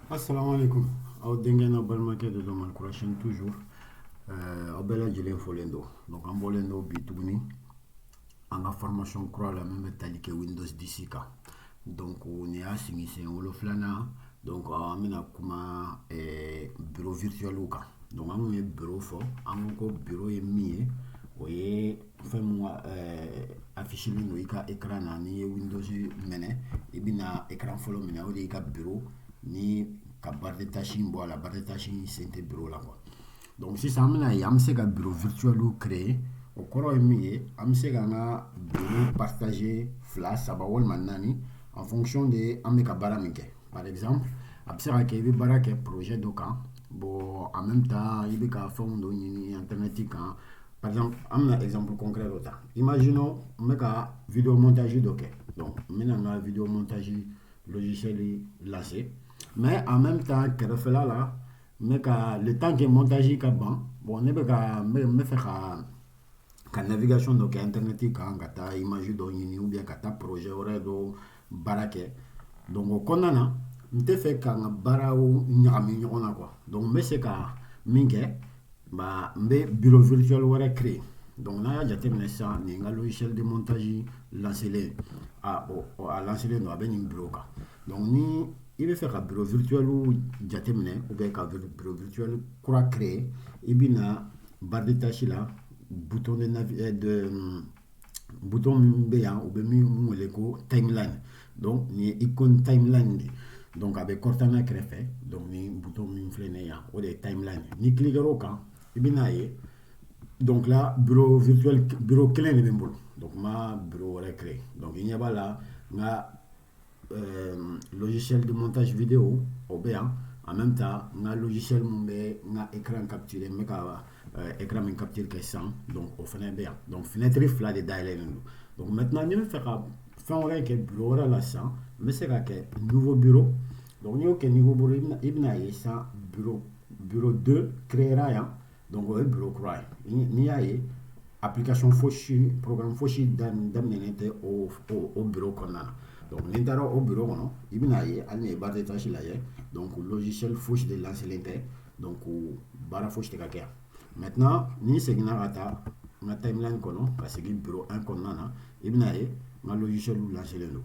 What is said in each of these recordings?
Assalamu alaikum. Aw denkɛ n'aw balimakɛ de don mali kurasini toujours eh, aw bɛɛ lajɛlen fɔlen don donc an bɔlen don bi tuguni an ka formation kura la min bɛ tali kɛ windows 10 kan donc nin y'a sigi sen wolonfilanan donc an bɛna kuma eh, bureau virtuel kan donc an kun ye bureau fɔ an ko ko bureau ye min ye o ye fɛn mun affichelen don i ka écran na n'i ye windows minɛ i bɛna écran fɔlɔ min ye o de y'i ka bureau ni ka barre de tâche in bɔ a la barre de tâche in sen tɛ bureau la quoi donc sisan an bɛna ye an bɛ se ka bureau virtuel créer o kɔrɔ ye min ye an bɛ se ka an ka bureau partager fila saba walima naani en fonction de an bɛ ka baara min kɛ par exemple a bɛ se ka kɛ i bɛ baara kɛ projet dɔ kan bon en même temps i bɛ ka fɛnw dɔ ɲini internet kan par exemple an bɛna exemple concret dɔ ta imaginons n bɛ ka vidéo montage dɔ kɛ donc n bɛna n ka vidéo montage logiciel lancer mais en même temps kɛrɛfɛla la n bɛ ka le temps que montage ka ban bon ne bɛ ka n bɛ n bɛ fɛ ka ka navigation dɔ kɛ internet kan ka taa image dɔ ɲini ou bien ka taa projet wɛrɛ dɔ baara kɛ donc o kɔnɔna na n tɛ fɛ ka n ka baaraw ɲagami ɲɔgɔn na quoi donc n bɛ se ka min kɛ ba n bɛ bureau virtuel wɛrɛ créer donc n'a y'a jateminɛ sisan nin n ka logiciel de montage lancelen a o a lancelen don a bɛ nin bureau kan donc ni i bɛ fɛ ka bureau virtuel jateminɛ ou bien ka bureau virtuel kura créer i bɛ na barre de tâche la bouton de navi eh, de bouton min bɛ yan u bɛ min wele ko timeline donc nin ye icône timeline de ye donc a bɛ Cortana kɛrɛfɛ donc ni bouton min filɛ nin ye yan o de ye timeline n'i cliquera o kan i bɛ n'a ye donc là bureau virtuel bureau kelen de bɛ n bolo donc n ma bureau wɛrɛ créer donc i ɲɛ b'a la n ka euh, logiciel de montage vidéo o bɛ yan en même temps n ka logiciel mun bɛ n ka écran capturer n bɛ ka euh, écran min capture kɛ sisan donc o fana bɛ yan donc fenêtre fila de dayɛlɛlen don donc maintenant ni n bɛ fɛ ka fɛn wɛrɛ kɛ bureau wɛrɛ la sisan n bɛ se ka kɛ nouveau bureau donc n'i y'o kɛ nouveau bureau i bɛna ye sisan bureau bureau 2 créera yan donc o ye bureau kura ye n'i y'a ye application fosi programme fosi daminɛnen tɛ o o bureau kɔnɔna na donc n'i taara o bureau kɔnɔ i bɛna ye hali n'i ye barre de tâche lajɛ donc logiciel fosi de lancelen tɛ donc baara fosi tɛ ka kɛ yan maintenant ni n seginna ka taa n ka timeline kɔnɔ ka segin bureau 1 kɔnɔna na i bɛna ye n ka logiciel lancelen don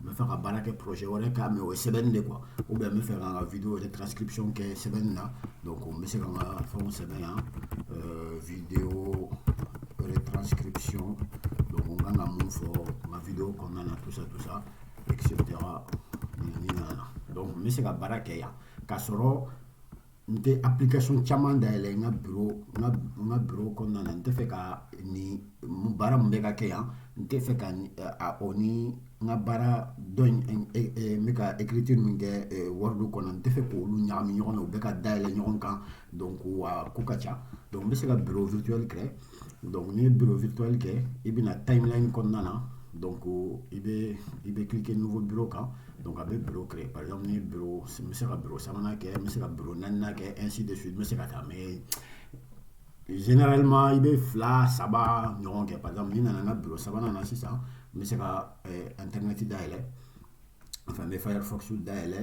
n bɛ fɛ ka baara kɛ projet wɛrɛ kan mais o ye sɛbɛnni de quoi ou bien n bɛ fɛ ka n ka video retranscription kɛ sɛbɛnni na donc n bɛ se ka n ka fɛnw sɛbɛn yan euh, video retranscription donc n kan ka mun fɔ n ka video kɔnɔna na tout ça tout ça etc ni nana donc n bɛ se ka baara kɛ yan k'a sɔrɔ n tɛ application caman dayɛlɛ n ka bureau n ka n ka bureau kɔnɔna na n tɛ fɛ ka nin baara min bɛ ka kɛ yan n tɛ fɛ ka a o ni n ka baara dɔ in n bɛ ka écriture min kɛ word kɔnɔ n tɛ fɛ k'olu ɲagami ɲɔgɔn na u bɛ ka dayɛlɛ ɲɔgɔn kan donc wa ko ka ca donc n bɛ se ka bureau virtuel créer donc n'i ye bureau virtuel kɛ i bɛ na timeline kɔnɔna na donc i bɛ i bɛ cliquer nouveau bureau kan donc a bɛ bureau créer par exemple ni bureau n bɛ se ka bureau sabanan kɛ n bɛ se ka bureau naaninan kɛ ainsi de suite n bɛ se ka taa mais généralement i bɛ fila saba ɲɔgɔn kɛ par exemple ni n nana n ka bureau sabanan na sisan n bɛ se ka internet dayɛlɛ Enfin, n bɛ firefox dayɛlɛ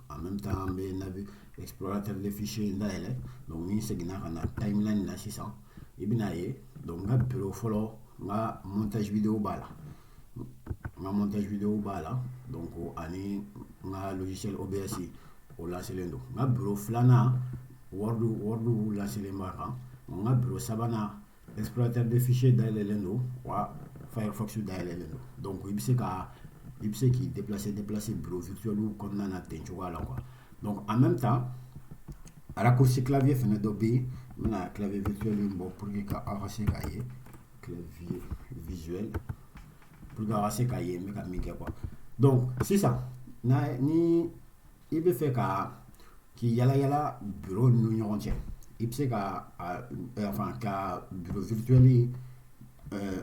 en même temps n bɛ navi explorateur de fichier dayɛlɛ donc ni n seginna ka na timeline na sisan i bɛna ye donc n ka bureau fɔlɔ n ka montage video b'a la n ka montage video b'a la donc ani n ka logiciel OBS o lancelen don n ka bureau filanan word word lancelen b'a kan n ka bureau sabanan explorateur de fichier dayɛlɛlen don wa firefox dayɛlɛlen don donc i bɛ se ka i bɛ se k'i déplacer déplacer bureau virtuel kɔnɔna na ten cogoya la quoi donc en même temps raccourci clavier fana dɔ bɛ yen n bɛna clavier virtuel in bɔ pour que aw ka se k'a ye clavier visuel pour que aw ka se k'a ye n bɛ ka min kɛ quoi donc sisan n'a ni i bɛ fɛ ka k'i yalayala bureau ninnu ɲɔgɔn cɛ i bɛ se ka enfin ka bureau virtuel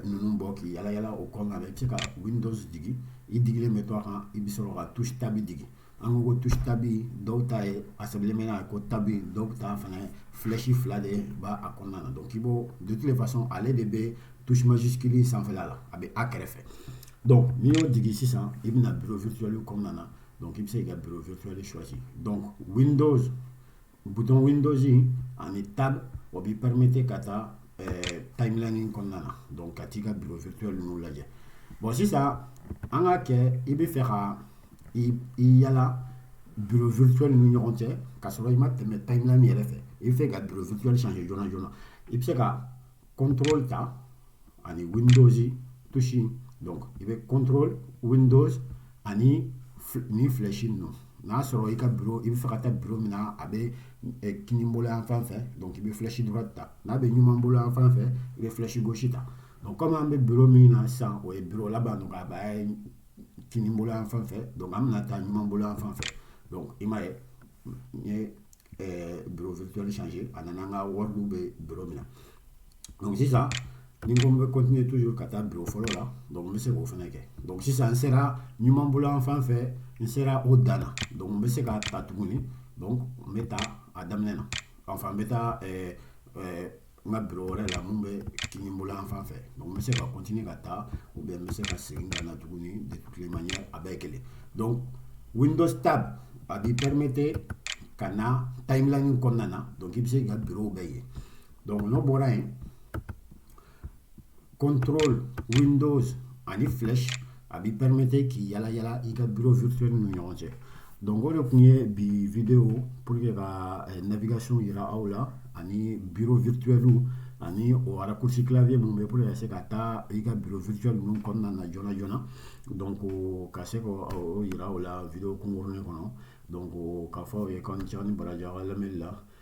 ninnu bɔ k'i yalayala o kɔnɔna na i bɛ se ka Windows digi i digilen bɛ to a kan i bɛ sɔrɔ ka touche tab digi an ko ko touche tab dɔw ta ye a sɛbɛnlen bɛ n'a ko tab dɔw ta fana flèche fila de b'a a kɔnɔna na donc i b'o de toute façon ale de bɛ touche majuscule sanfɛla la a bɛ a kɛrɛfɛ donc n'i y'o digi sisan i bɛ na bureau virtuel kɔnɔna na donc i bɛ se ka bureau virtuel choisi donc windows bouton windows in ani tab o b'i permettre ka taa eh, timeline in kɔnɔna na donc ka t'i ka bureau virtuel ninnu lajɛ bon sisan an k'a kɛ i bɛ fɛ ka i i yala bureau virtuel ninnu ɲɔgɔn cɛ ka sɔrɔ i ma tɛmɛ timeline yɛrɛ fɛ i bɛ fɛ ka bureau virtuel changer joona joona i bɛ se ka contrôle ta ani windows touche donc i bɛ contrôle windows ani ni flèche ninnu n'a sɔrɔ i ka bureau i bɛ fɛ ka taa bureau min na a bɛ kini bolo yan fan fɛ donc i bɛ flèche droite ta n'a bɛ ɲuman bolo yan fan fɛ i bɛ flèche gauche ta donc comme an bɛ bureau min na sisan o ye bureau laban donc a b'a kini bolo yan fan fɛ donc an bɛna taa ɲuman bolo yan fan fɛ donc i m'a ye n ye eh, bureau virtuel changer a nana an ka word bɛ bureau min na donc sisan ni ko n bɛ continuer toujours ka taa bureau fɔlɔ la donc n bɛ se k'o fana kɛ donc sisan n sera ɲuman bolo yan fan fɛ n sera o dan na donc n bɛ se ka taa tuguni donc n bɛ taa a daminɛ na enfin n bɛ taa eh, eh, n ka bureau wɛrɛ la mun bɛ kini bolo yan fan fɛ donc n bɛ se ka continuer ka taa ou bien n bɛ se ka segin ka na tuguni de toutes les manières a bɛɛ kelen donc windows tab a b'i permettre ka na timeline kɔnɔna na donc i bɛ se k'i ka bureau bɛɛ ye donc n'o bɔra yen contrôle windows ani flèche a b'i permettre k'i yala yala i ka bureau virtuel ni ɲɔgɔn cɛ donc o de tun ye bi vidéo pour que ka eh, navigation yira aw la ani bureau virtuel ani o raccourci clavier minnu bɛ pour que ka se ka taa i ka bureau virtuel ninnu kɔnɔna na joona joona donc ka se k'o yira aw la vidéo kunkurunin kɔnɔ donc k'a fɔ aw ye k'aw ni ce aw ni baraji aw ka lamɛnni la